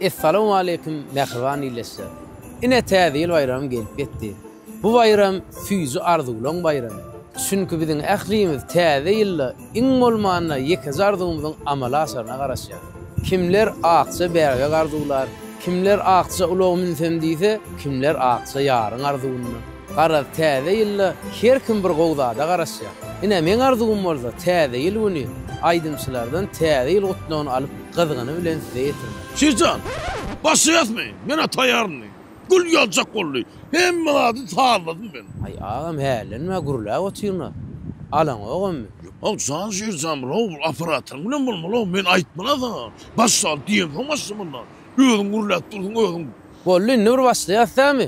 Essalowmaleýkim mähriban ildeşler! Ine Täze ýyl baýramy gelip ýetdi. Bu baýram süýji arzuwlaň baýramy. Çünki biziň ählimiz Täze ýylda iň bolmanda ýekeje arzuwymyzyň amala aşaryna garaşýas. Kimler akja bäbek arzuwlar, kimler akja ulaga münsem diýse, kimler akja ýaryň arzuwynda. Garaz, Täze ýylda her kim bir gowy zada garaşýar. Ine, meň arzuwym bolsa Täze ýyl güni aýdymçylardan Täze ýyl gutlagyny alyp, gyzgyny bilen size ýetirmek. Şirjan, başlaýasmy? Men-ä taýýaryn, diýdi. Gül ýaljak boldy. Hemme zady sazladym men. Aý, agam, hällenmä, gürläp otyryn-a. Alaňok emmi. Ýok, jan Şirjan, bro, bul operatoryň bilen bolmaly-ow. Men aýtman-a saňa. Başlaly diýemsoň başlamaly-da. Özüň gürläp dursuň, özüň. Boldy, indi bir başlaýas, dämi?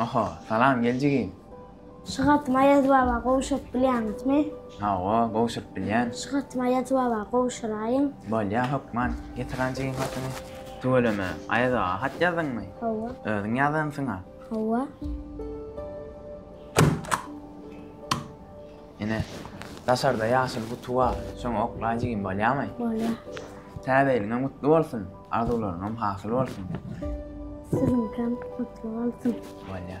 Oho, salam geljigim. Şu hatymy Aýaz baba gowşuryp bilýäňizmi? Hawa, gowşuryp bilýän. Şu hatymy Aýaz baba gowşuraýyň. Bolýa, hökman. Getiren jigim hatyny. Tüweleme, Aýaz aga hat ýazdyňmy? Hawa. Özüň ýazansyň-a? Hawa. Ene, daşarda ýaşyl guty bar, şoňa oklaý jigim, bolýamy? Bolýa. Täze ýylyňam gutly bolsun, arzuwlaryňam hasyl bolsun. Siziňkem gutly bolsun. Bolýa.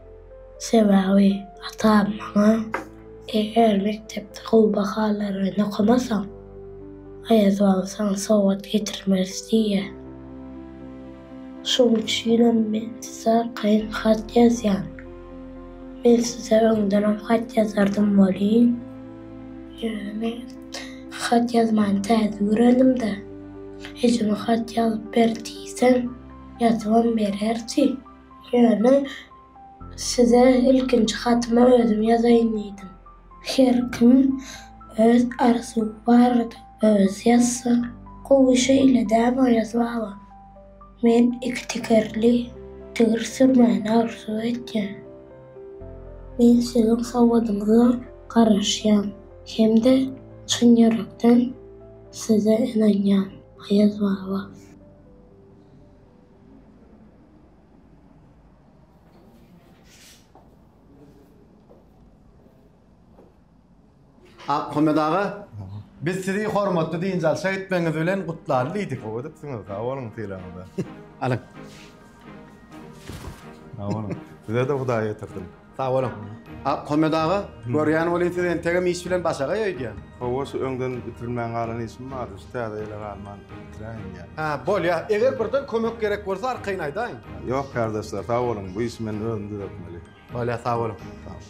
Sebäbi atam maňa, Eger mekdepde gowy bahalar bilen okamasaň, Aýaz baba saňa sowgat getirmez diýýär. Şonuň üçinem men size arkaýyn hat ýazýan. Men size öňdenem hat ýazardym welin, ýöne men hat ýazmany täze öwrendim-de, ejeme hat ýazyp ber diýsem, ýazybam bererdi. Ýöne size ilkinji hatymy özüm ýazaýyn diýdim. Her kim öz arzuwy barada özi ýazsa, gowy şeýle däm Aýaz baba. Men iki tekerli tigir sürmäni arzuw etýän. Men siziň sowadyňyza garaşýan hem-de çyn ýürekden size ynanýan Aýaz baba. Akmyrat aga, biz sizi hormatly dynç alşa gitmegiňiz bilen gutlaly diýdik. Gowy edipsiňiz, sag boluň sylagyňyza. Alyň. Sag boluň. Size-de Hudaý ýetirsin. Sag boluň. Ahmet aga, görýän welin siz entegem iş bilen başagaý öýdýän. Hawa, şu öňden bitirilmän galan işim bardy, şu täze ýyla galman bitiräýin diýýän. Hä, bolýar. Eger birden kömek gerek bolsa arkaýyn aýdaýyň. Ýok, kärdeşler, sag boluň, bu işi men özüm düzetmeli. Bolýar, sag boluň. Sag boluň.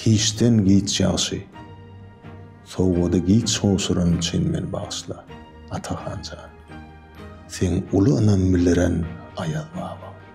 Hiçden giç ýagşy, sowgady giç gowşuran üçin meni bagyşla, Atahan jan. Seň uly ynam bildiren Aýazbaba.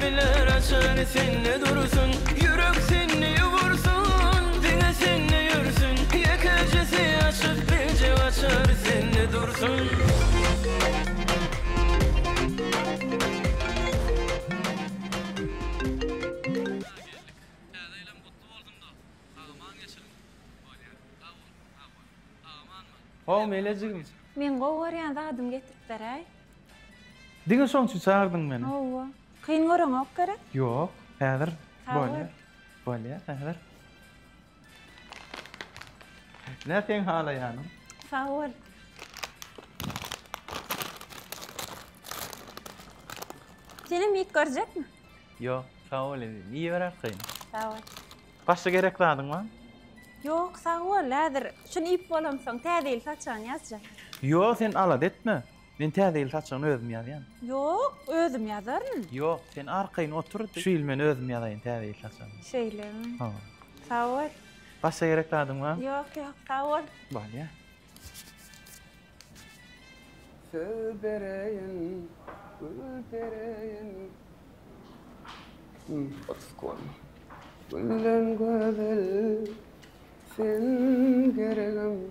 Biler açany sende dursun, Ýürek sende ýugursun, Diňe sende ýörsün, Ýekejesi açyk Birje açar sende dursun. How mele jigim. Meň gowy görýän zadym getiripdiräý. Diňe şoň üçin çagyrdyň meni. Hawa. Kyn göreňok gerek? Ýok, häzir bolýar. Bolýar häzir. Nä seň halaýanyň? Sag bol. Senem iýip görjekmi? Ýok, sag bol indi. Iýiberersiň. Sag bol. Başga gerek zadyň barmy? Ýok, sag bol. Häzir şuny iýip bolansoň, täze ýyl saçagyny ýazjak. Ýok, sen alada etme. Men täze ýyl saçagyny özüm ýazýan. Ýok, özüm ýazaryn. Ýok, sen arkaýyn otur, şu ýyl men özüm ýazaýyn täze ýyl saçagyny. Şeýlemi? Hawa. Sag bol. Başga gerek zadyň barmy? Ýok, ýok, sag bol. Bolýar. Söz bereýin, gül bereýin. Gülden gözel sen geregim.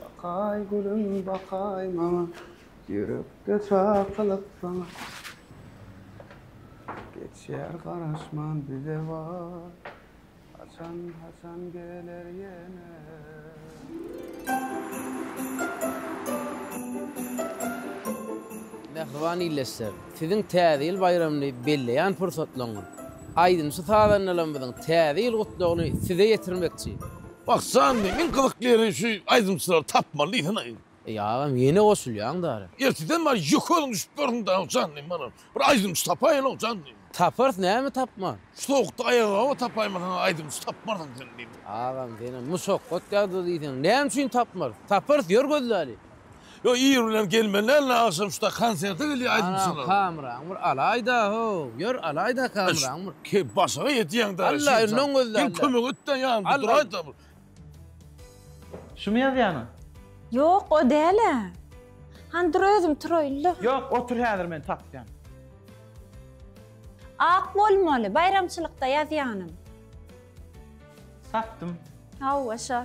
Bakaý gülüm bakaý maňa, Ýürekde çakylyk saňa. Geçýär garaşman bize waý, Haçan, haçan geler ýene. Mähriban ildeşler! Siziň Täze ýyl baýramyny belleýän pursatlaryňyz. Aýdymçy-sazandalarymyzyň Täze ýyl Gutlagyny size ýetirmekçi. Bakjan men iň gyzykly ýeri şu aýdymçylary tapmaly diýsene aýdym. Eý agam ýene goşulýaň dara. Erteden bar ýokaryň düşüp görsün dagy jandym bana bir aýdymçy tapaýyňok jandym. Taparys näme tapman. Şu sowukda aýagaoba tapaýmasaň aýdymçy tapmarsyň sen diýdim. Agam senem musokgot ýagda diýseň näme üçin tapmarys. Taparys ýör gözläli. Ýok ir bilen gelmeli däldir agşam şuda konserte gelýär aýdymçylar. Anam kameraňy bir alaýda how ýör alaýda kameraňy bir. Keý başyňa ýetýäňdä. Alla öňden gözle. Gel kömek etde ýanymda duraýda bir. Şumy ýazýanyň? Ýok o dälä. Hany dur özüm turaýynda. Ýok otur häzir men tapýan. Ak bolmaly baýramçylykda ýazýanym. Tapdym. Hawa şol.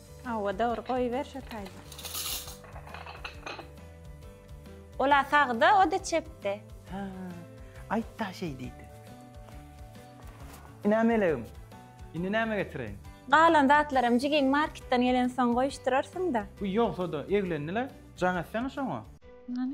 Hawa dogry goýber şo taýda. Ola sagda oda çepde. Hä. Aýt da şeý diýdi. Ine melegim. Indi näme getireýin? Galan zatlaram jigiň marketden gelen soň goýuşdyrarsyňda. Bu ýogsada eglendi-le. Jaň etsene şoňa. Hany.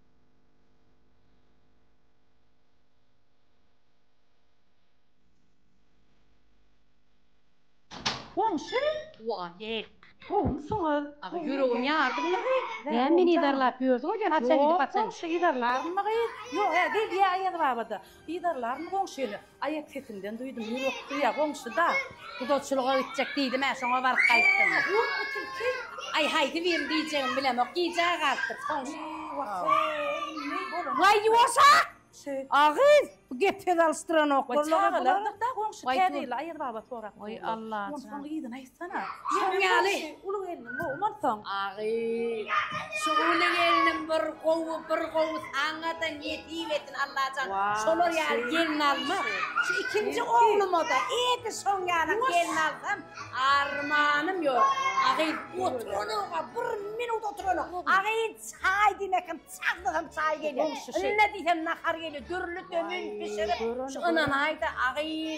Goňşy waleýk gowumsyňyz aga ýüregim ýardymyňyzy näme meni yzarlap ýördüňiz ýöne haçan gidip atyn. Ýok goňşy yzarlarynmy gyz ýok gelýä aýazbabada Yzarlarmy goňşy ýene? Aýak sesinden duýdum, ýürek duýýa goňşy-da. Gudaçylyga gitjek diýdim-ä, şoňa baryp gaýtdym. Ýa, ýok bu tilki. Aý, haýdybir diýjegimi bilemok, gijä galdyk, goňşy. Eý, wah-eý, näý bolany. Waý, ýuwaş-ak! Agyz, bu gep-söz alyşdyranok bolmaly bular. Waý, çagalardyr-da goňşy, käbirleri aýazbabat sorap durlar. Waý, Allajan. Onsoň yzyna. Sana. Şoň ýaly. Uly gelniň gowy bolsaň. Agy. Şu uly gelnim bir gowy, bir gowy aňada nesip etsin Allajan. Şolar ýaly gelin alma. Şu ikinji ogluma da edi şoň ýaly gelin alsam armanym ýok. Agy oturana bir minut oturana. Agy çaý diýmekem, çagdygym çaý gelýär. Indi diýsem nahar gelýär. Dürli tömin bişirip şu ynanaýda agy.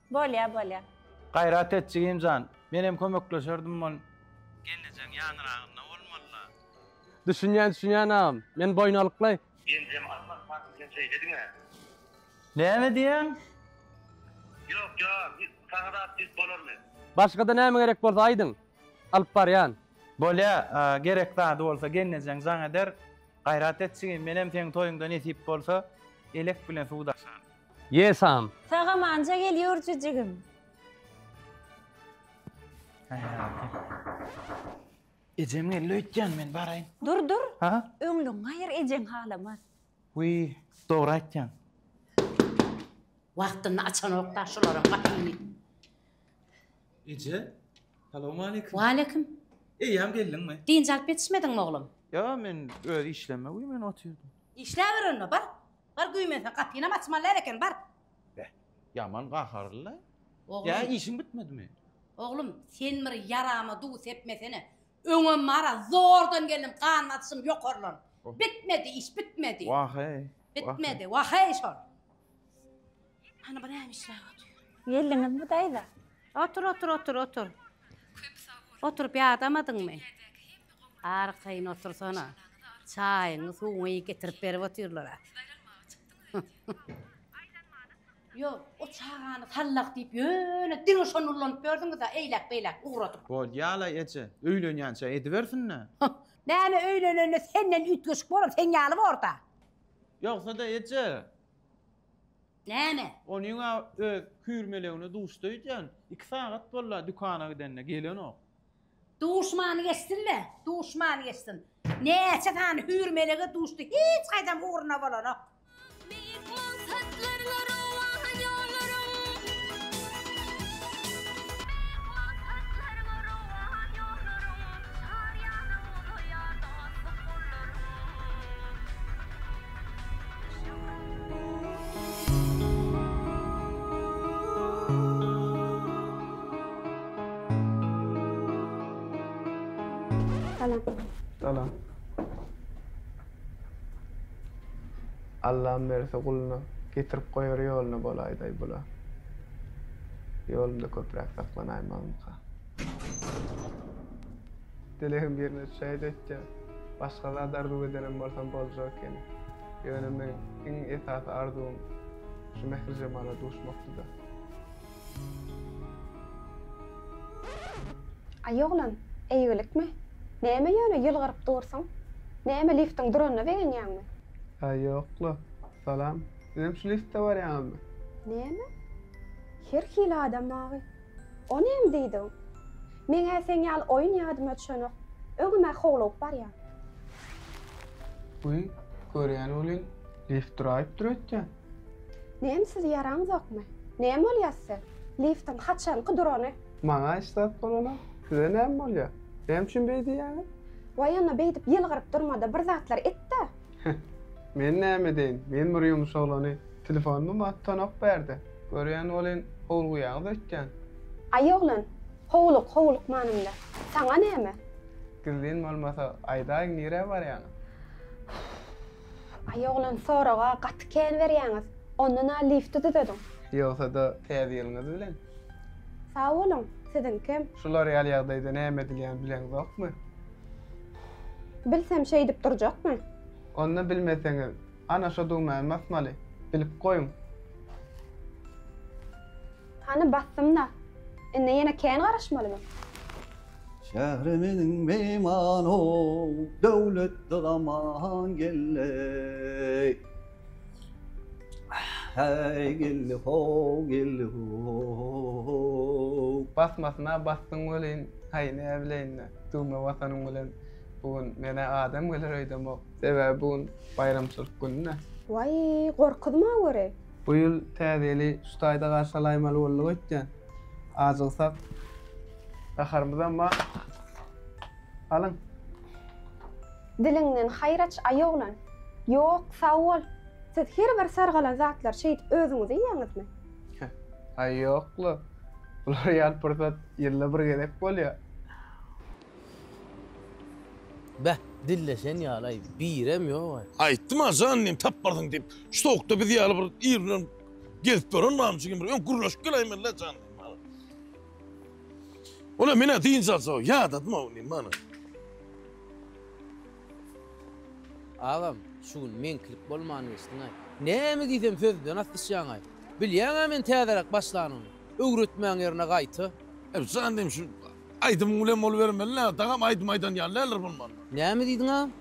Bolýa bolýa. Gaýrat et jigimjan. Menem kömekleşerdim bol. Gelnejeň ýanyragynda bolmalyla. Düşünýän düşünýän agam. Men boýnalykly. Genjem almaz sanki sen şeýle diňe. Näme diýýäň? Ýok ýok hiç saňa zat diýip bolarmy. Başgada näme gerek bolsa aýdyň. Alyp barýan. Bolýa gerek zady bolsa gelnejeň jaň eder. Gaýrat et jigim menem seň toýuňda nesip bolsa elek bilen suw daşan. Ye sam. Sagamanja gel yurcu jigim. Ejem geldi öýtýän men baraýyn. Dur dur. Ha? Öňlügiňi aýyr ejeň halamaz. Wiý, dogry aýtýaň. Wagtynda açanok da şularyň gapyny. Eje, salowmaleýkim. Waleýkim. Eýýäm geldiňmi? Dynç alyp ýetişmediňmi oglum? Ýa men öz işleme wiý men otyrdym. Işläber onda bar. Bar güýmense gapynam açmalylar eken bar. Beh, ýaman gaharly-la. Ýa işiň bitmedimi? Oglum, sen bir ýarama duw sepmesene. Öňem bar-a, zordan geldim, gan basyşym ýokarlan. Bitmedi iş, bitmedi. Wah-eý. Bitmedi, wah-eý şol. Hany birem işläp otur. Geldiňizmi daýza? Otur otur otur otur. Oturyp ýadamadyňmy? Arkaýyn otursana. Çaýyňy suwuňy getirip berip otyrlar-a. Ýok, o çagany sallak diýip ýöne diňe şony ullanyp ýördüňiz-ä eýläk-beýläk ugradyp. Bolýa-laý eje, öýlenýänçä edibersin-dä. Näme öýlenende senden üýtgeşik bolar, seň ýaly bor-da. Ýogsa-da eje, Näme? Onyň-a öz küýrmelegine duşdy öýdýän. Iki sagat boldy-a dükana gidenine, gelenok. Duşmany geçsin-le, duşmany geçsin. Näçe sany hüýrmelege duşdy, hiç haýsam ugruna bolanok. Beýik maksatlarla rowan ýollaryň. Salam. Salam. Allam berse guluna getirip goýar ýoluna bolaýdaý bula. Ýolumda köpräk saklanaýmazmyka? Dilegim birine düşäýdi öýtýän. Başga zat arzuw edenem bolsam boljak ekeni. Ýöne meň iň esasy arzuwym şu Mährijemala duşmakdyda. Aý oglan, eýgilikmi? Näme ýöne ýylgyryp dursuň? Näme liftiň duranyna begenýäňmi? Aý ýok-la. Salam. Sizem şu liftde barýaňyzmy? Näme? Her hili adam bagy. O näme diýdiň? Meň-ä seň ýaly oýun ýadyma düşenok. Öňem-ä howlugyp barýan. Wiý, görýän welin, left-raýtdyr öýtýän. Näme sizi ýaraňzokmy? Näme bolýa size? Liftiň haçanky durany? Maňa hiç zat bolanok. Size näme bolýa? Näme üçin beý diýýäňiz? Waý onda beýdip ýylgyryp durma-da bir zatlar et-dä! Heh, men näme edeýin, men bir ýumuş oglany, telefonymy maňa tutanok bärde. Görýän welin, howlugýaňyz öýtýän. Aý oglan, howluk, howluk manymda. Saňa näme? Gizlin bolmasa, aýdaýyň nirä barýaňyz? Aý oglan, soraga gaty kän berýäňiz. Ondan-a lifti düzediň. Ýogsa-da, Täze ýylyňyz bilen! Sag boluň, siziňkem. Şular ýaly ýagdaýda näme edilýän bileňzokmy? Bilsem şeýdip durjakmy? Onda bilmeseňiz, ana şo düwmäni basmaly. Bilip goýuň. Hany basdym-da. Indi ýene kän garaşmalymy? Şähre meniň myhman-ow, döwletli zaman geldi. Häý geldi how geldi how. Basmasyna basdyň welin haý näbileýinle düwme basanyň bilen bu gün menä adam geler öýdemok. Sebäbi bu gün baýramçylyk gününe. Waý gorkuzma göre. Bu ýyl Täze ýyly şu taýda garşy alaýmaly bolduk öýtýän. Ajygsak gaharymyzam bar. Alyň. Diliňden haýyr aç, aý oglan! Ýok, sag bol! Siz her bir sargalan zatlary şeýdip özüňiz iýýäňizmi? Haý, ýok-la. Bular ýaly pursat ýylda bir gezek bolýar. Be, dilleşen ýaly-aý, birem ýog-aý. Aýtdym-a, jan diýen taparsyň diýip. Şu sowukda biz ýaly bir ir bilen gezip ýören namçy kim bir öň gürleşip geläýmeli-le jan diýdim maňa. Ol-a men-ä dynç alsa ýadadym-ow diýdim maňa. Agam, şu gün meňkilik bolman geçdiň-aý. Näme diýsem sözden asdyşýaň-aý. Bilýäň-ä men täzeräk başlanymy. Öwretmäň ýerine gaýta. Jan diýim, şu aýdymyň bilen bolubermeli-le, dagam aýdym aýdan ýaly däldir bolmanda. Näme diýdiň agam?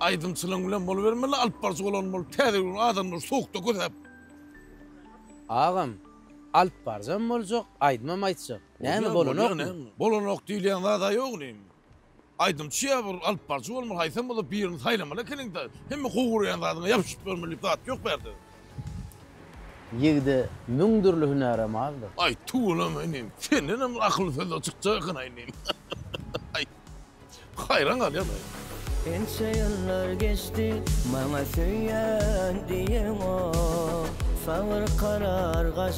Aýdymçylygyň bilen bolubermeli-le, alyp baryjy bolan bolup, täze ýüregini adamlar sowukda kösäp. Agam, alyp baryjam boljak, aýdymam aýtjak. Näme, bolanokmy? Bolanok diýilýän zad-a ýok indi. Aýdymçy ýa bir alyp baryjy bolmaly haýsam bolup birini saýlamaly ekeniňda hemme gowy görýän zadyňa ýapyşyp ýörmeli diýip zat ýok bu ýerde. Ýigide müň dürli hünärem azdyr. Aý tüweleme inim sendenem akylly sözler çykjak ekena inim aý haýran galýan aý. Ençe ýyllar geçdi maňa söýýän diýeňok sabyr karar gaç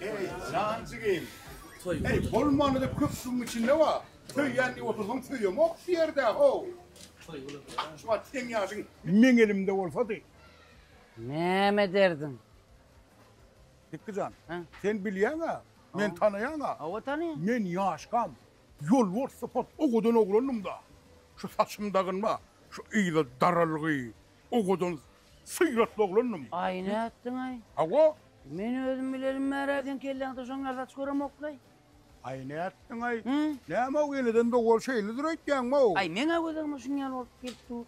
Ey, jan jigim. Ey, bolmany da köp suwuň içinde wa. Söýýän diýip otursaň söýemok şu ýerde, ho. Şu wagt seň ýaşyň meň elimde bolsady. Näme ederdiň? Dikgi jan, sen bilýäň-ä, men tanaýan-a. Hawa, tanaýan. Men ýaşkam, ýolbars sypat owadan oglandym-da. Şu saçym dagynma, şu yza daralgy, Owadan syratly oglandym. Aý nätdiňaý? Hawa. Men özüm bilelim bärä seň kelläňde şoň ýaly saç göremokly. Aý nätdiňaý? Näme-ow eneden dogul şeýledir öýtýäňmi-ow? Aý meň-ä gözeňime şuň ýaly bolup gelip dur.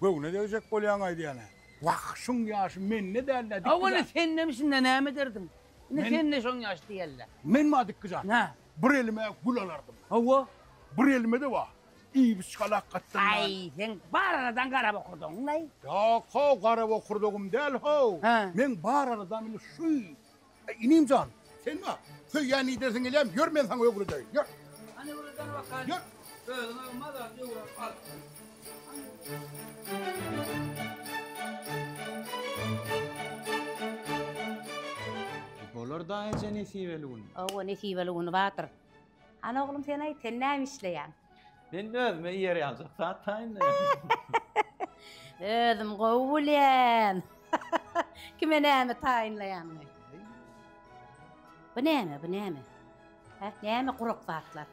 Göwne degjek bolýaň aýdýan-a. Wah, şuň ýaşy mende däl-dä dikizat. Hawa indi sende bisimde näme ederdiň? Indi sende şoň ýaşy diýäl-dä. Men-ma dikizat? Nä? Bir elime gül alardym. Hawa. Bir elime-de wah, Iýbiçgal hakgatdan dal. Aý, seň bar aradan gara bokurdagyňlaý. Ýok how, gara bokurdagym däl how. Hä. Meň bar aradam indi şuý. Aý, inim jan, sen bar. Söýýän iýdersiň gelýäm, ýör men saňa öwredeýin, ýör. Hany öwredene bakaýyn. Ýör. Özüňe mazar öwredip al. Bolar-da eje nesibeli gün. Hawa, nesibeli gün bardyr. Hany oglum sen aýt, sen näme işleýäň? Men özüme ýer ýaljak zat taýyn. Özüm gowy bilýän. Kime näme taýynlaýanyny. Bu näme, bu näme? Hä, näme gurak zatlar?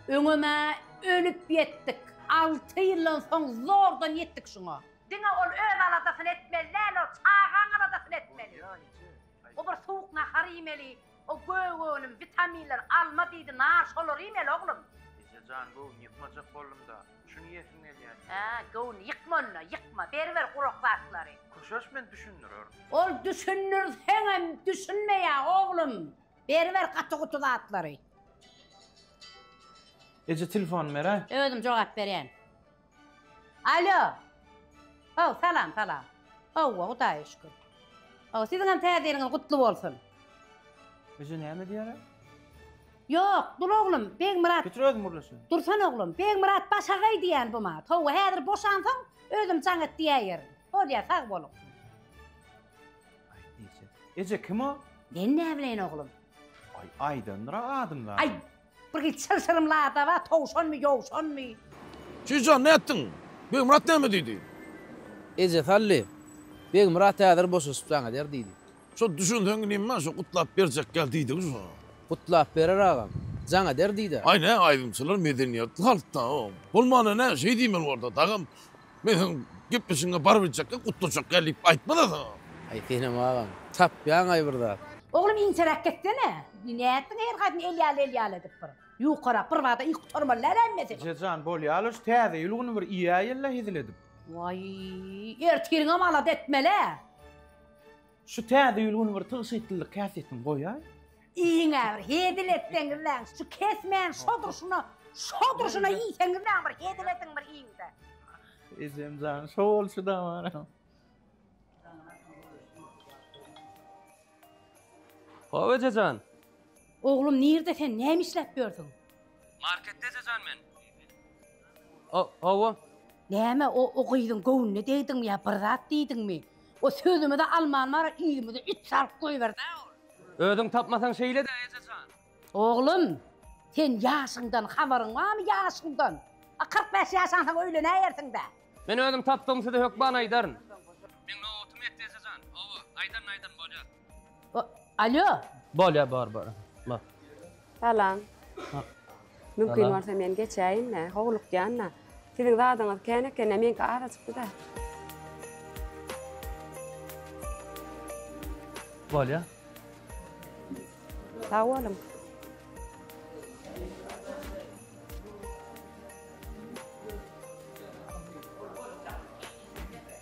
Öňem-ä ölüp ýetdik. Alty ýyldan soň zordan ýetdik şuňa. Diňe ol öz aladasyny etmeli däl, ol çagaň aladasyny etmeli. Gubur suwuk nahar iýmeli, O gög önüm, witaminler, alma diýdi, nar, şolary iýmeli oglum. Eje jan göwün ýykmajak boldumda, şuny iýesim gelýär. Hä, göwün ýykma onda, ýykma, beriber gurak zatlary. Köşeş men düşündirerin. Ol düşündir seňem düşünmeýä oglum. Beriber gaty-guty zatlary. Eje telefony beräý. Özüm jogap berýän. Alo. Haw, salam, salam. Howwa, Hudaýa şükür. Haw, siziňem Täze ýylyňyz gutly bolsun. Eje näme diýýär-ä? Ýok, dur oglum, Begmyrat. Getir özüm gürleşeýin. Dursan oglum, Begmyrat başagaý diýýän bu maňa. Howwa, häzir boşansoň, özüm jaň et diýäýerin. Bolýa, sag boluň. Aýt diýse. Eje, kim o? Men näbileýin oglum. Aý, Aýdandyr-a adyň zadyň. Aý, Bir gyz çylşyrym ladaba, towşanmy, ýowşanmy? Jüýjehan, nätdiň? Begmyrat näme diýdi? Eje Sally, Begmyrat häzir boşaşyp jaň eder diýdi. Şo düşünseň neme, şo gutlap berjek ýaly diýdigi şo. Gutlap berer agam, jaň eder diýdä. Aý, nä aýdymçylar medeniýetli halkda, o, bolmanda nä, şeý diýmeli bolsa, dagam, Men seň gepleşigiňe baryp etjekkä, gutlajakkä diýip aýtmadasaň. Aý senem agam, tapýaňaý bir zat. Oglum inçeräk getsene. Nätdiň her gaýdym el ýaly el ýaly edip bir. Ýukarak bir bada iý gutarmaly däl hemmesi. Ejejan bolýala şu täze ýyl güni bir iýäýela hezil edip. Waý ertiriňem alada etmelä. Şu täze ýyl güni bir tygşytlylyk häsiýetini goýaý. Iýiňä bir hezil etseňiz däň, şu kesmäň şo durşuna, şo durşuna iýseňiz däň bir hezil ediň bir iýiňde. Ejem jan, şo bolşy da bar. Hawa eje jan. Oglum nirde sen näme işläp ýörsüň? Marketde eje jan men. O, hawa. Näme, o, o gyzyň göwnüne degdiňmi ýa bir zat diýdiňmi? O sözümi-de alman bar, yzymyza üç salyp goýber-dä ol. Özüň tapmasaň şeýle-dä, eje jan. Oglum, sen ýaşyňdan habaryň barmy, ýaşyňdan? A kyrk bäş ýaşansoň öýlenäýersiň-dä. Men özüm tapdygym size hökman aýdaryn. Meň nobatymy ýetdi, eje jan. Hawa, aýdaryn, aýdaryn, bolýar. Alýo. Bolýar bor bor. Bor. Salam. Mümkin bolsa men geçäýin-de, howlukýan-da. Siziň zadyňyz kän eken-de, meňki azajykdy-da. Bolýar. Sag boluň.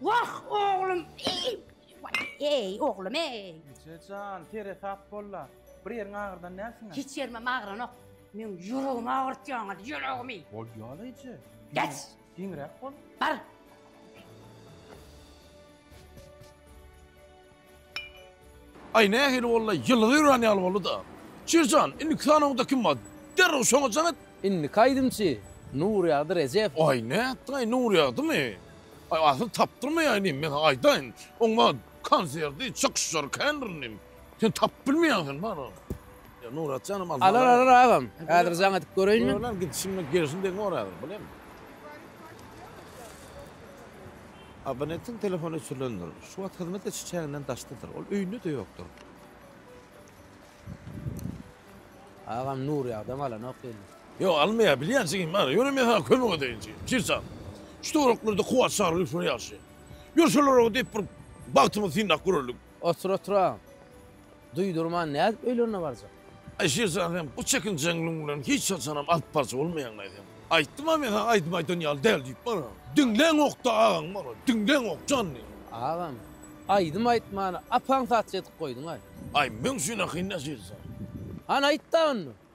Wah oglum iý waý eý oglum eý. Eje jan tere sap bolla bir ýeriň agyrdan dälsiňä. Hiç ýerimem agyranok meň ýüregimi agyrtýaňyz ýüregimi. Bolýala eje. Geç. Giňräk bol. Bar. Aý nähili boldy-aý, ýylgy ýören ýaly boldy-da. Çir jan, indiki sanawyňda kim bar? Derrew şoňa jaň et! Indiki aýdymçy, Nurýagdy Rejep. Aý nätdiň-aý, Nurýagdymy? Aý asyl tapdyrmaýaý inim, men saňa aýdaýyn. Oň maňa konserti, çykyşlary kändir inim. Sen tapyp bilmeýäň sen bary. Ýa Nurat janym aldyň Alar, alany. alar agam. Häzir jaň edip göreýin men. Gör lan, gidişim bilen gelşim deň bor häzir, bilem. Abonentiň telefony öçürilendir. Şu wagt hyzmat ediş çäginden daşdadyr. Ol öýünde-de ýokdur. Agam Nur ýagdam alanok geldi. Ýok almaýar bilýän jigim bar. Ýöne men saňa kömek edeýin jigim. Çyrçan. Şu töwereklerinde kuwwat şaly gülşüler ýagşy. Ýör şolara diýip bir bagtymyzy synlap göreliň. Otur-otura, duýdurman nädip öýlerine barjak? Aýşir jan sen bu çekinjeňligiň bilen hiç haçanam alyp baryjy bolmaýaň-laý sen. Aýtdym-a men saňa aýdym aýdan ýaly däl diýip bana. Diňläňok-da agaň bana, diňläňok jan diýen. Agam, aýdym aýtmany apaň saçy edip goýduň-aý. Aý, meň üçin ahyryn Aýşir jan. Hany aýt-da onda.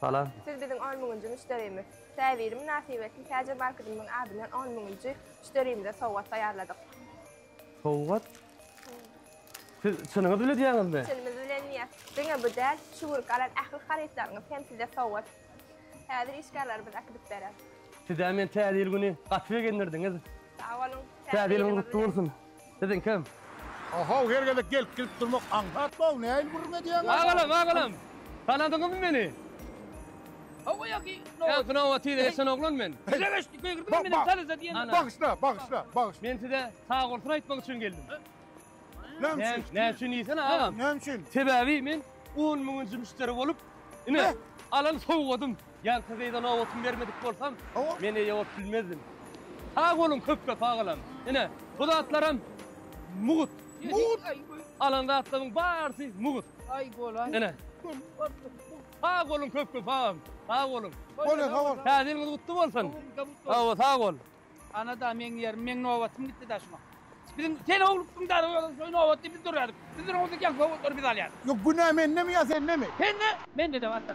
Salam. Siz biziň on müňünji müşderimiz. Täwiri mynasybetli Täjir Barkydymyň adyndan on müňünji müşderimize sowgat taýýarladyk. Sowgat? Siz çynyňyz biledýäňizmi? Çynymyz bilenýär. Diňe bu däl, şu günki alan ähli harytlaryňyz hem size sowgat. Häzir işgärlerimiz äkidip berer. Sizä men Täze ýyl güni gaty begendirdiňiz. Sag boluň. Täze ýylyňyz gutly bolsun. Siziň kim? Ohow her gezek gelip gidip durmak aňsat bow näil gürrüň edýäňiz. Agalam agalam tanadyňyzmy meni? Hawa ýaky nobat. Ýaňky nobat tiz geçen oglan men. Dize geçdi köýgürdi men meniň tanyza diýen. Bagyşla bagyşla bagyşla. Men size sagbolsun aýtmak üçin geldim. Näme üçin? Näme üçin diýsene agam. Näme üçin? Sebäbi men on müňünji müşderi bolup ine alan sowgadym. Jan Tazeýda nobatyny bermedik bolsam, men eýe bolup bilmezdim. Sag boluň köpbe sagalam. Ine, bu zatlaram mugt. Mugt. Alan zatlaryň barysy mugt. Aý bolaý. Ine. Sag boluň köpbe sagalam. Sag boluň. Boluň sag boluň. Täze ýylyňyz gutly bolsun. Sag bol, sag bol. Ana da meň ýerim, meň nobatym gitdi da şuňa. Biziň sen owlukdyň da şoý nobatda biz durýardyk. Biz duranyňyzda geň sowatlary biz alýardyk. Ýok günä mendemi ýa sendemi? Sende! Mende de barka.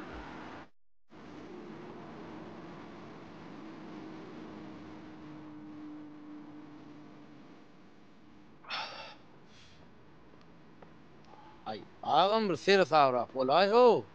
Aý agam bir seresabrak bolaý-how.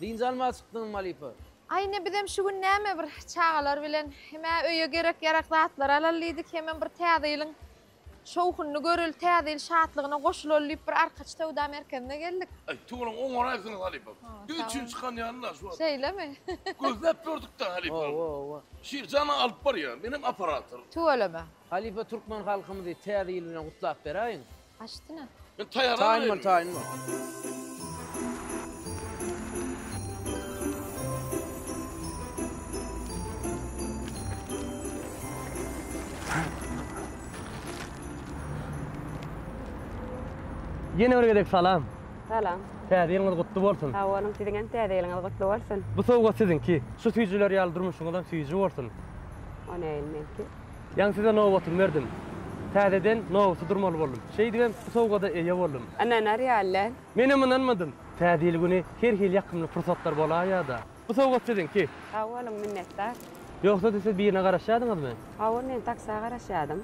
Dynç almaga çykdyňmy halypa? Aý ine bizem şu gün näme bir çagalar bilen hem-ä öýe gerek ýarak zatlar alaly diýdik hemem bir täze ýylyň şowhunyny göreli täze ýyl şatlygyna goşulaly diýip bir arkaç söwda merkezine geldik. Aý tugalaň oňaraýsyňyz halypa. Düýn çyn çykan ýaly la şu wagt. Şeýlemi? Gözläp ýördük-de halypa. Oba oba. Şir jana alyp barýa. Menem operator. Tüweleme. Halypa türkmen halkymyzy täze ýyl bilen gutlap beräýiň. Aşdyna. Men taýar alyp Taýyn bol taýyn bol. Ýene bir gezek salam. Salam. Täze ýylyňyz gutly bolsun. Sag boluň, siziň hem täze ýylyňyz gutly bolsun. Bu sowgat siziňki. Şu süýjüler ýaly durmuşyňyzam süýji bolsun. O näme ilmeki? Ýaňy size nobatymy berdim. Täzeden nobata durmaly boldum. Şeýdibem bu sowgada eýe boldum. Ynanar ýaly däl. Menem ynanmadym. Täze ýyl güni her hili ýakymly pursatlar bolaýýar-da. Bu sowgat siziňki. Sag boluň, minnetdar. Ýogsa-da siz birine garaşýadyňyzmy? Hawa, men taksa garaşýadym.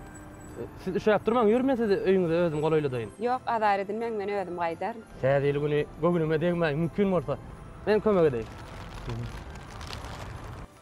Siz üşäp durmaň, ýör men sizi öýüňize özüm golaýladaýyn. Ýok, azar edinmäň, men özüm gaýdaryn. Täze ýyl güni göwnüme degmäň, mümkin bolsa, men kömek edeýin.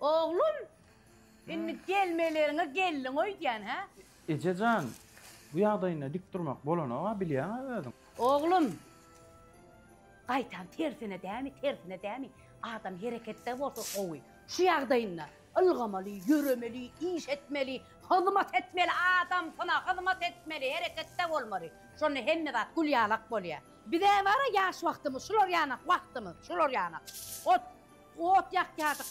Oglum, indi gelmeleriňe geldiň öýdýän, hä? Eje jan, bu ýagdaýynda dik durmak bolanok-a, bilýäň-ä özüň. Oglum, gaýtam tersine dämi, tersine dämi, adam hereketde bolsa gowy. Şu ýagdaýynda ylgamaly, ýöremeli, iş etmeli, hyzmat etmeli, adamsyna hyzmat etmeli, hereketde bolmaly. Şonda hemme zat gülýalak bolýar. Bizä bar-a ýaş wagtymyz, şular ýanak wagtymyz, şular ýanak. Ot. Ot ýakýardyk.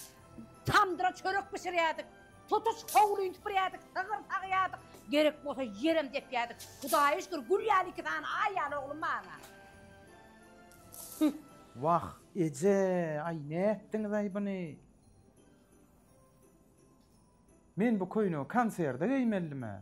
Tamdyra çörek bişirýärdik. Tutuş howlyny süpürýärdik, sygyr sagýardyk. Gerek bolsa ýerem depýärdik. Hudaýa şükür, gül ýaly iki sany aý ýaly oglum barla. Wah, eje, aý nätdiňiz-aý buny? Men bu köýnegi konserde geýmelidimä?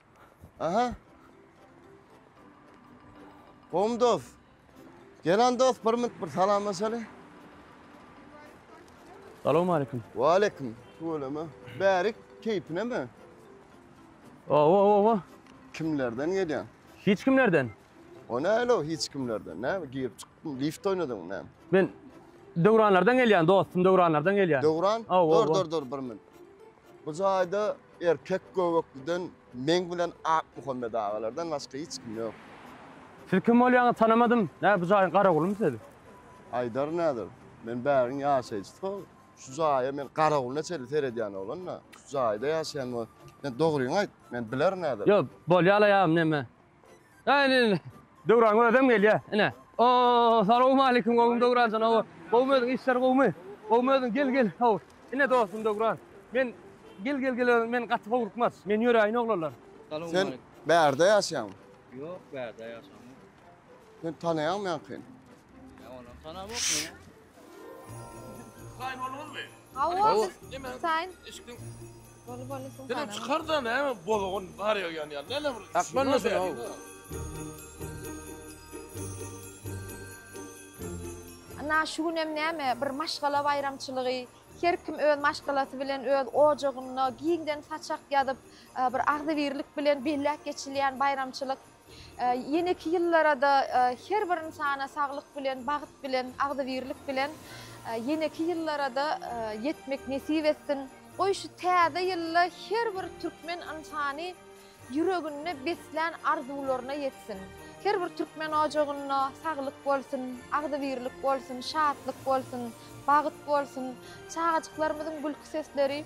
Aha. Gowmy dost? Gelen dost bir minut bir salamlaşaly. Salam aleyküm. Wa aleyküm. Tüweleme. Bärik keýpine mi? Owa owa owa. Kimlerden gelýän? Hiç kimlerden. O näle o hiç kimlerden? Näme girip çykdyň? Lift oýnadyň näme? Men Döwranlardan gelýän dostum, Döwranlardan gelýän. Döwran? Aw, aw, Dur aw. dur dur bir minut. Bu jaýda Erkek göbekliden meň bilen Akmuhammet agalardan başga hiç kim ýok. Siz kim bolýaňyz tanamadym. Nä bu jaýyň garagulymy siz? Aýdar näder. Men bäriň ýaşaýjysy. Şu jaýa men garagulna çenli seredýän oglan-da. Şu jaýda ýaşaýan men. Sen dogryňy aýt. Men bilerin näder. Ýok, bolýa-la ýa neme. Ine, Döwran özem gelýär. Ine. Oo, salowmaleýkim, gowmy Döwranjan, hawa. Gowmy özüň, işler gowmy? Gowmy özüň, gel, gel, hawa. Ine, dostum Döwran. Men, gel, gel, gel, men gaty howlukmaz. Men ýöräýin, oglanlar. Sen bärde ýaşaýaňmy? Ýok, bärde ýaşamok. Seni tanaýarmyňky? Saýn bolmaly. Hawa, biz saýn. Eşikden. Bolu bolu suw. Sen çykar da näme bolugun bar ýa ýan ýan. Näme bir. Akman da sen. Ana şu gün hem näme bir maşgala baýramçylygy. Her kim öz maşgalasy bilen öz ojagynda giňden saçak ýazyp, bir agzybirlik bilen belläp geçilýän baýramçylyk. Ýeneki ýyllara-da her bir ynsana saglyk bilen, bagt bilen, agzybirlik bilen ýeneki ýyllara-da ýetmek nesip etsin. Goý, şu täze ýylda her bir türkmen ynsany ýüreginde beslän arzuwlaryna ýetsin. Her bir türkmen ojagynda saglyk bolsun, agzybirlik bolsun, şatlyk bolsun, bagt bolsun, çagajyklarymyzyň gülki sesleri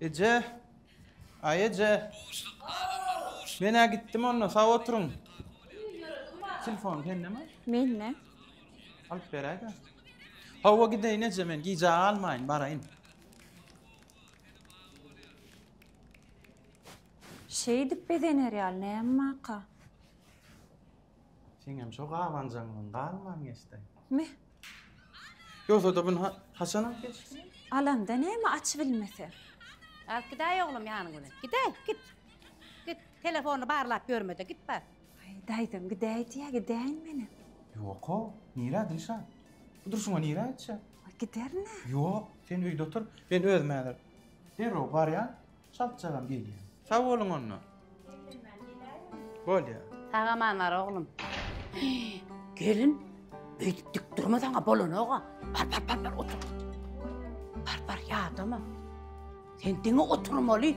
Eje! Aý eje! Men-ä gitdim onda, sag oturyň. Telefon sendemi? Mende. Alyp beräý-de. Hawa, gideýin eje men, gijä galmaýyn, baraýyn. Şeýdip bezener ýaly näme waka? Seňem şo gabanjaňdan galman geçdi. Me. Ýogsa-da bun haçan alyp geçdi? Alanda näme aç bilmese. Alyp gidäý oglum ýanyň bilen. Gidäý, git. Git, telefony barlap ýörme-de, git bar. Aý, daýzam gidäý diýýä, gidäýin menem. Ýok-ow, nirä Dilşat? Bu durşuna nirä gitjek? Giderin-ä. Ýok, sen öýde otur, men özüm häzir derrew barýan. Çalt-çagam gelýän. Sag boluň onda. Bolýar. Sag aman bar oglum. Gelin, beýdip dik durma saňa bolanok-a. Bar, bar, bar, bar, otur. Bar, bar, ýadama. Sen diňe oturmaly.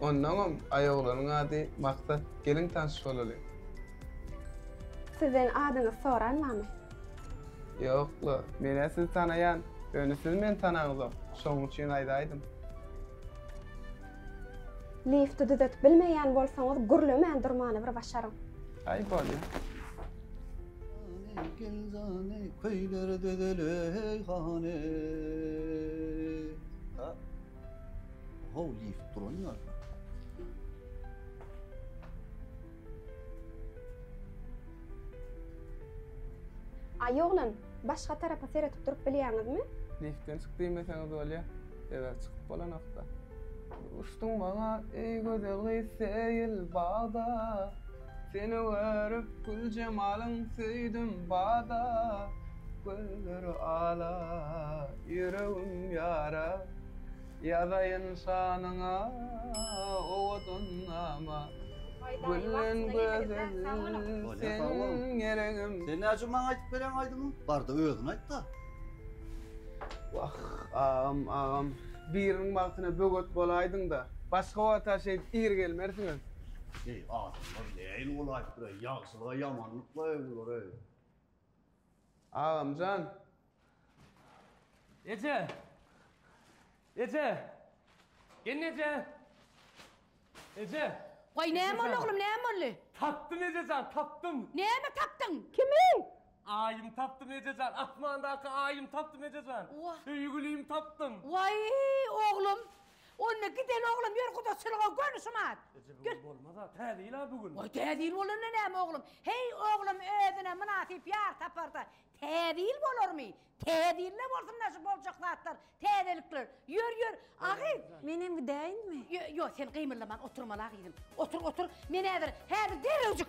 Ondaňam aýoglanyň ady Maksat geliň tanyş bolaly. Sizden adyňyzy soranmamy. Ýokla, menä sizi tanaýan, ýöne siz meni tanaňyzok, şoň üçin aýdaýdym. Lifti düzetip bilmeýän bolsaňyz gürlemän durmany bir başaryň. Aý bolýa. Jany gel jany köýler dözel eý hany. How lift duran ýaly. Aý oglan, başga tarapa seretip durup bilýäňizmi? Liftden çyk diýmeseňiz bolýa, sebäbi çykyp bolanokda. Uçduň maňa, eý gözel gyz, seýil bagda. Seni görüp gül jemalyn söýdüm bada Gözleri ala ýüregim ýara Ýazaýyn şanyňa owadan nama Gülden gözel seniň ýeregim. Sen näjügim maňa aýdyp bereň aýdymy? Barda özün aýtda. Wah agam agam biriniň bagtyna böwet bolaýdyňda başga wagta şeýdip ir gelmersiňiz. Eý, adamlar nähili bolaýypdyr-eý, ýagşylyga ýamanlyk-laý bular-eý. Agamjan! Eje! Eje! Gelneje! Eje! Goý, näme boldy, oglum, näme boldy? Tapdym, ejejan, tapdym! Näme tapdyň? Kimi? Aýym tapdym, ejejan, asmandaky Aýym tapdym, ejejan. Söýgülimi tapdym. Waý, oglum, Onda gideli oglum ýör gudaçylyga göni şumat. Eje bu gün bolmaz-a, täze ýyl-a bu gün. Woý täze ýyl bolanda näme oglum. Heý oglum özüne mynasyp ýar taparda täze ýyl bolarmy. Täze ýylda bolsun-da şu boljak zatlar, täzelikler. Ýör ýör. Agy. Menem gidäýinmi? Ýo ýo sen gymyldaman oturmal agyzym. Otur otur. Men häzir, häzir derrewjik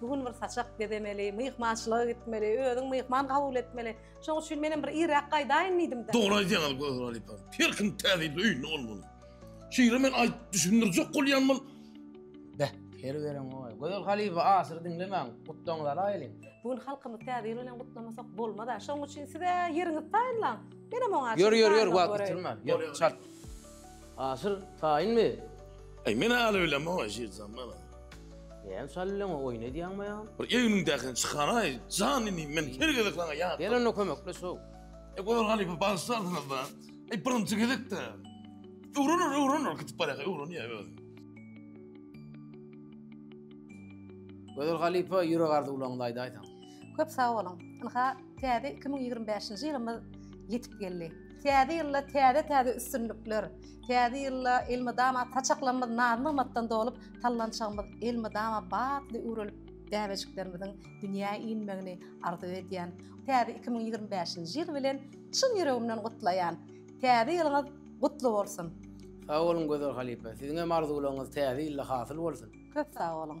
Bu gün bir saçak gezemeli, myhmançylyga gitmeli, özüň myhman kabul etmeli. Şoň üçin menem bir irräk gaýdaýyn diýdim-de. Dogry aýdýaňyz Gözel halypa. Her kim täze öýünde bolmaly. Şeýle men aýt düşündirjek bolýan bol. Beh, her gelen goý. Gözel halypa asyr diňlemäň, gutlagyňyzy alaýylyň. Bu gün halkymyz täze ýyl bilen gutlamasak bolmaz-a. Şoň üçin siz-ä ýeriňizi taýynlaň. Menem oňa Ýör, ýör, ýör, wagt ýitirme. Ýör, çalt. Asyr, taýynmy? Aý, men aly bilemok, Aşyr jan, bala. Näme şaly bileňok, oýun edýäňmi ýa? Bir egniňdäkini çykaraý, jan inim, men her gezek saňa ýat. Gel onda kömekleş, how. Aý, Gozar halypa, bagyşlarsyňyz-da. Aý, birinji gezek-dä. Öwrener, öwrener, gidip barýarka öwrenýär özi. Gozar halypa, ýürek arzuwlaryňyzy aýdaýsaň. Köp sag boluň. Ynha, täze iki müň ýigrimi bäşinji ýylymyz ýetip geldi. Täze ýylda täze-täze üstünlikler, täze ýylda elmydama saçaklarymyz naz-nygmatdan dolup, sallançagymyz elmydama batly üwrelip, bäbejiklerimiziň dünýä inmegini arzuw edýän. Täze iki müň ýigrimi bäşinji ýyl bilen çyn ýüregimden gutlaýan. Täze ýylyňyz gutly bolsun! Sag boluň Gözel halypa. Siziňem arzuwlaryňyz täze ýylda hasyl bolsun! Köp sag boluň!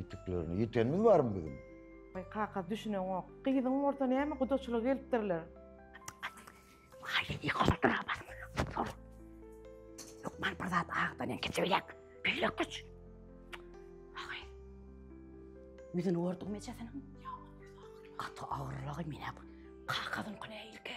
Ýitüklerini ýitenimiz barmy biziň? Baý kaka düşüneňok. Gyzyň bolsa näme gudaçylyga gelipdirler. Haýyýy goladyra bas. Sor. Lukman bir zat agdan en keçe bilek. Bilek güç. Haýy. Ýüzüni gördüňmi ejesiniň? Ýa, gaty agyrlagy menä. Kakazyň kune ilki.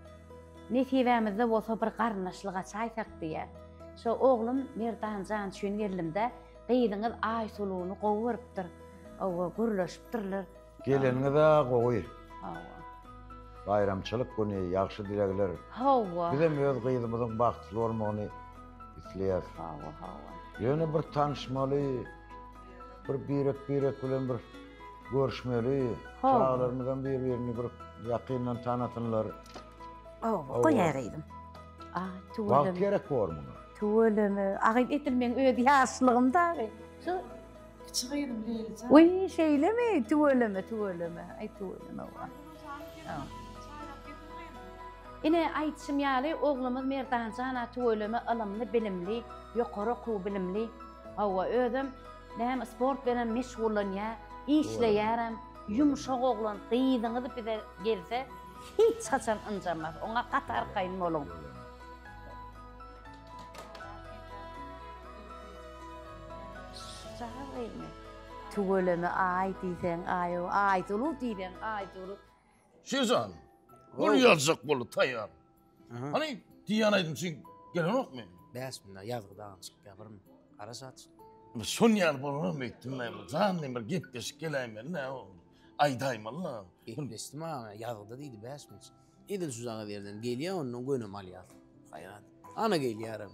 Nesibämizde bolsa bir garyndaşlyk açaýsak diýýä. Şo oglum Merdan jan üçin geldim-de, gyzyňyz Aýsuluny gowy görüpdir. Hawa, gürleşipdirler. Geleniňiz-ä gowy. Hawa. Baýramçylyk güni, ýagşy dilegler. Hawa. Bizem öz gyzymyzyň bagtly bolmagyny isleýäs. Hawa, hawa. Ýöne bir tanyşmaly, bir birek-birek bilen bir. Görüşmeli. Howwa. Çagalarymyzam bir-birini bir ýakyndan tanasynlar. Howwa, goýaýraýdym. Aý, Wagt tüweleme, gerek bor muňa. tüweleme. Agyz edil meň öz ýaşlygym dagy. Şu, Kiçi gyzym Leyli jan. uý, şeýlemi? Tüweleme, tüweleme. Aý, tüweleme, wah. Howwa. Çaýlap getir gyzym. Ine, aýdyşym ýaly, oglumyz Merdanjan-a tüweleme ylymly, bilimli, ýokary okuw bilimli, Hawa, özem näme sport bilenem meşgullanýar, işleýärem, ýumşak oglan, gyzyňyz bize gelse hiç haçan ynjamas, oňa gaty arkaýyn boluň. Tüweleme aý diýseň aý, Aýsuluw diýseň Aýsuluw. Şeýzan. Gol ýazjak boldy taýýar. Hany diýýän aýdym üçin gelenokmy? Bäş günde ýazgy dagyny çykyp ýapyryn. Gara saç. Şon ýaly bolanam öýtdüm men. Jan diýen bir gepleşik geläýmeli nä boldy? Aýdaýmaly-la. Gepleşdi maňa ýazgyda diýdi bäş gün. Edil şu zaga berden gelýär ondan gönem alýar. Haýran. Ana gelýärem.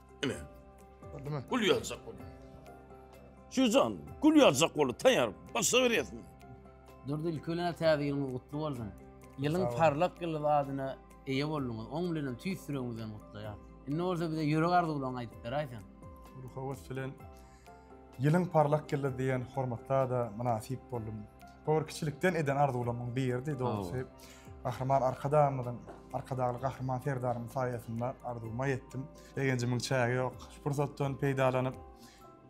Ine. Gördümi? Gül ýazjak bol. Şujan, gül ýazjak bol. Taýar, başa berýärsin. Durdy ilkölene täze ýylyňyz gutly bolsun. Ýylyň parlak ýyly adyna eýe bolduňyz. Oň bilen hem tüýs ýüregimizden gutlaýar. Indi bolsa bize ýürek arzuwlaryňy aýdyp beräýseň. Ruhawat bilen Ýylyň parlak ýyldy diýen hormatla-da mynasyp boldum. Bu bir kiçilikden eden arzuwlarymyň biridi, dogrusy. Gahryman Arkadagymyzyň, Arkadagly Gahryman Serdarymyň saýasynda arzuwyma ýetdim. Begenjimiň çägi ýok. Şu pursatdan peýdalanyp,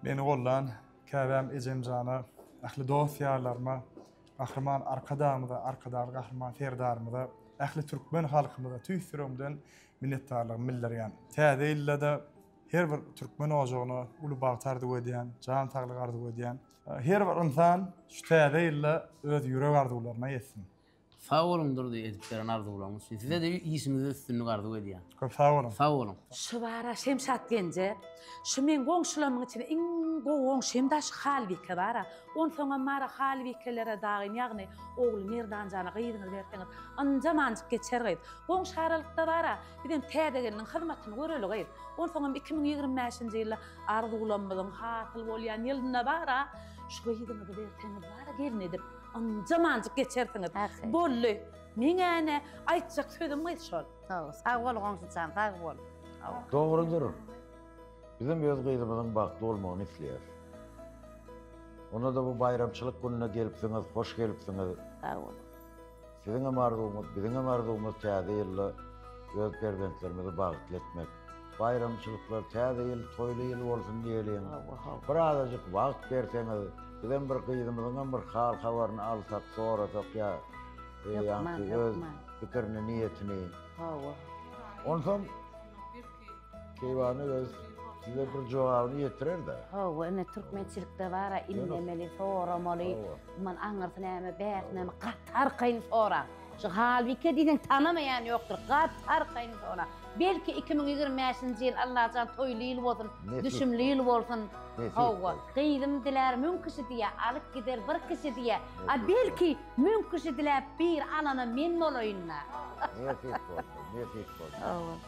meni gollan käbäm ejemjana, ähli dost-ýarlaryma, Gahryman Arkadagymyza, Arkadagly Gahryman Serdarymyza, ähli türkmen halkymyza tüýs ýüregimden minnetdarlygymy bildirýän. Täze ýylda-da Her bir türkmen ojagyna uly bagt arzuw edýän, jan saglyk arzuw edýän. Her bir ynsan şu täze ýylda öz ýürek arzuwlaryna ýetsin. Sag boluň Durdy edip beren arzuwlaryňyz üçin. Sizede işiňizde üstünlik arzuw edýän. Köp sag boluň. Sag boluň. Şybara Şemşat genje. Şu meň goňşularymyň içinde iň gowy goňşymda şu Halbike bara. Onsoňam bara Halbikelere dagym ýagny ogly Merdanjana gyzyňyzy berseňiz ynjam anjyk geçer gyz. Goňşy aralykda bara. Bizem täze gelniň hyzmatyny göreli gyz. Onsoňam iki müň ýigrimi bäşinji ýylda arzuwlanmyzyň hasyl bolýan ýylynda bar-a, şu gyzyňyzy berseňiz bar-a gelin edip, ynjamanjyk geçersiňiz. Boldy. Meň-ä-ne aýtjak sözüm gyz şol. Hawa, sag bol goňşyjan, sag bol. Dogrudyr. Bizem öz gyzymyzyň bagtly bolmagyny isleýäris. Onda-da bu baýramçylyk gününe gelipsiňiz, hoş gelipsiňiz. Sag boluň. Siziňem arzuwyňyz, biziňem arzuwymyz täze ýylda öz perzentlerimizi bagtly etmek. Baýramçylyklar, täze ýyl toýly ýyl bolsun diýeliň. Bir azajyk wagt berseňiz, bizem bir gyzymyzyňam bir hal-habaryny alsak, sorasak ýa ýa-da öz pikirini, niýetini. Hawa. Onsoň Keýwany öz size bir jogabyny ýetirer-de. Hawa, ine türkmençilikde bar-a, inlemeli, soramaly. Mundan aňyrsy näme, bäş näme, gaty arkaýyn soraň. Şu Halbike diýseň tanamaýan ýokdur, gaty arkaýyn soraň. Belki iki müň ýigrimi bäşinji ýyl Allajan toýly ýyl bolsun, düşümli ýyl bolsun. Hawa, gyzym dilär müň kişi diýä, alyp gider bir kişi diýä. A belki müň kişi diläp bir alana men bolaýyn-da. Nesip bolsa, nesip bolsa. Hawa.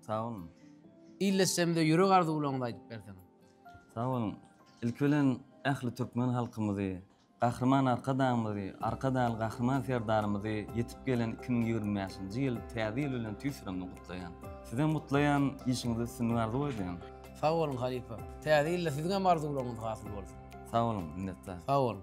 Sag boluň. Ildeşlerimize ýürek arzuwlaryňyzy aýdyp berseňiz. Sag boluň. Ilki bilen ähli türkmen halkymyzy, Gahryman Arkadagymyzy, Arkadagly Gahryman Serdarymyzy ýetip gelen iki müň ýigrimi bäşinji ýyl Täze ýyl bilen tüýs ýüregimden gutlaýan. Sizem gutlaýan, işiňizde üstünlik arzuw edýän. Sag boluň halypa. Täze ýylda siziňem arzuwlaryňyz hasyl bolsun. Sag boluň, minnetdar. Sag boluň.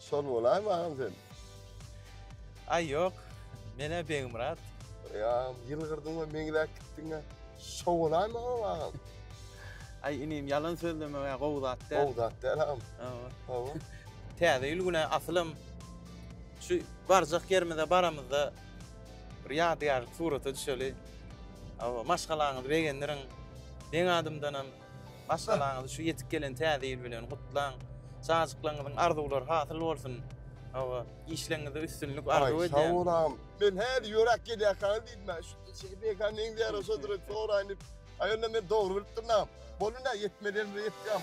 Şol bolaýmy agam sen? Aý ýok, men-ä Begmyrat. Eý agam, ýylgyrdyň-a, meňzäp gitdiň-ä. Şo bolaýmy agam, agam? Aý inim, ýalan sözlemek-ä gowy zat däl. Gowy zat däl agam. Hawa. Hawa. Täze ýyl güni asylym şu barjak ýerimize baramyzda bir ýadygärlik surata düşeli. Hawa, maşgalaňyzy begendiriň. Meň adymdanam Maşgalaňyzy şu ýetip gelen Täze ýyl bilen gutlaň! Çajyklaryňyzyň arzuwlary hasyl bolsun! Hawa, işleriňizde üstünlik arzuw edýän! Aý, sag bol agam! Men häli ýöräp gelýärkäňiz diýdim, ä, şu çeki beýkä neňze ýaraşadyr, soraýyn diýip. Aý, onda men dogry bilipdirin agam. Boldy, ine, ýetmeli ýerimize ýetdik agam.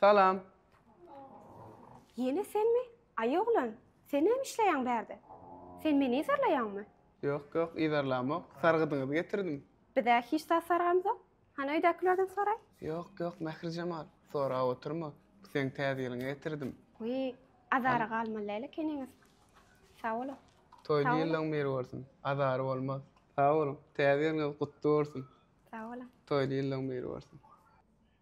Salam. Ýene senmi? Aý oglan, sen näme işleýäň bärde? Sen meni yzarlaýaňmy? Ýok, ýok, yzarlamok. Sargydyňyzy getirdim. Biz-ä hiç zat sargamzok. Hany öýdäkilerden soraý. Ýok, ýok, Mährijemal, sorap oturma. Bu seň Täze ýylyňa getirdim. Wiý, azara galmalylaýyl ekeniňiz. Sag boluň. Toýly ýyllaň bir bolsun. Azary bolmaz. Sag boluň. Täze ýylyňyz gutly bolsun. Sag boluň. Toýly ýyllaň bir bolsun.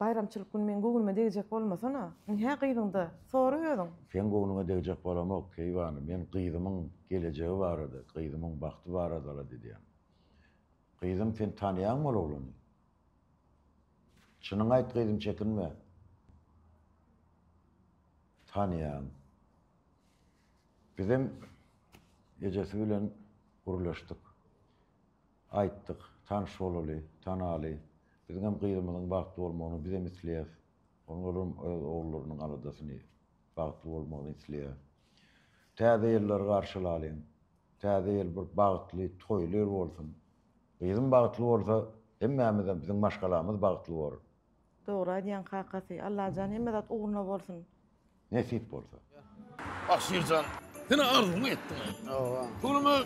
Baýramçylyk gün meň göwnüme degjek bolmasana. Indi hä gyzyňda, sora özüň. Seň göwnüňe degjek bolamok, keýwany, men gyzymyň gelejegi barada, gyzymyň bagty barada-la didýän. Gyzym, sen tanaýaňmy ol oglany? Çynyňy aýt, gyzym, çekinme. Tanaýan. Bizem ejesi bilen gürleşdik. Aýtdyk, tanyş bolaly, tanaly. Biziňem gyzymyzyň bagtly bolmagyny bizem isleýäs. Onuň ölerim öz ogullarynyň aladasyny, bagtly bolmagyny isleýär. Täze ýyllary garşylalyň. Täze ýyl bir bagtly, toýly ýyl bolsun. Gyzym bagtly bolsa, hemmämizem, biziň maşgalamyz bagtly bolar. Dogry aýdýaň kakasy. Allajan hemme zat ugruna bolsun. Nesip bolsa. Ah Şirjan senä arzuwyňy etdiň aý. Hawa. Pulumy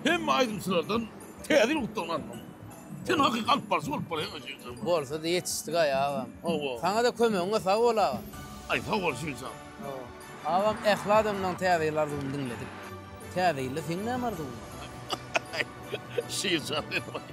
hemme aýdymçylardan täze ýyl gutlagyny almaly. Sen hakyky alyp barjy bolup bolaýaň aý Şirjan. Bolsa-da ýetişdik aý agam. Hawa. Saňa-da kömegiňe sag bol agam. Aý sag bol Şirjan. Hawa. Agam ähli adamlaň täze ýyl arzuwyny diňledik. Täze ýylda seň näme arzuwyň bar? Şirjan sen baý.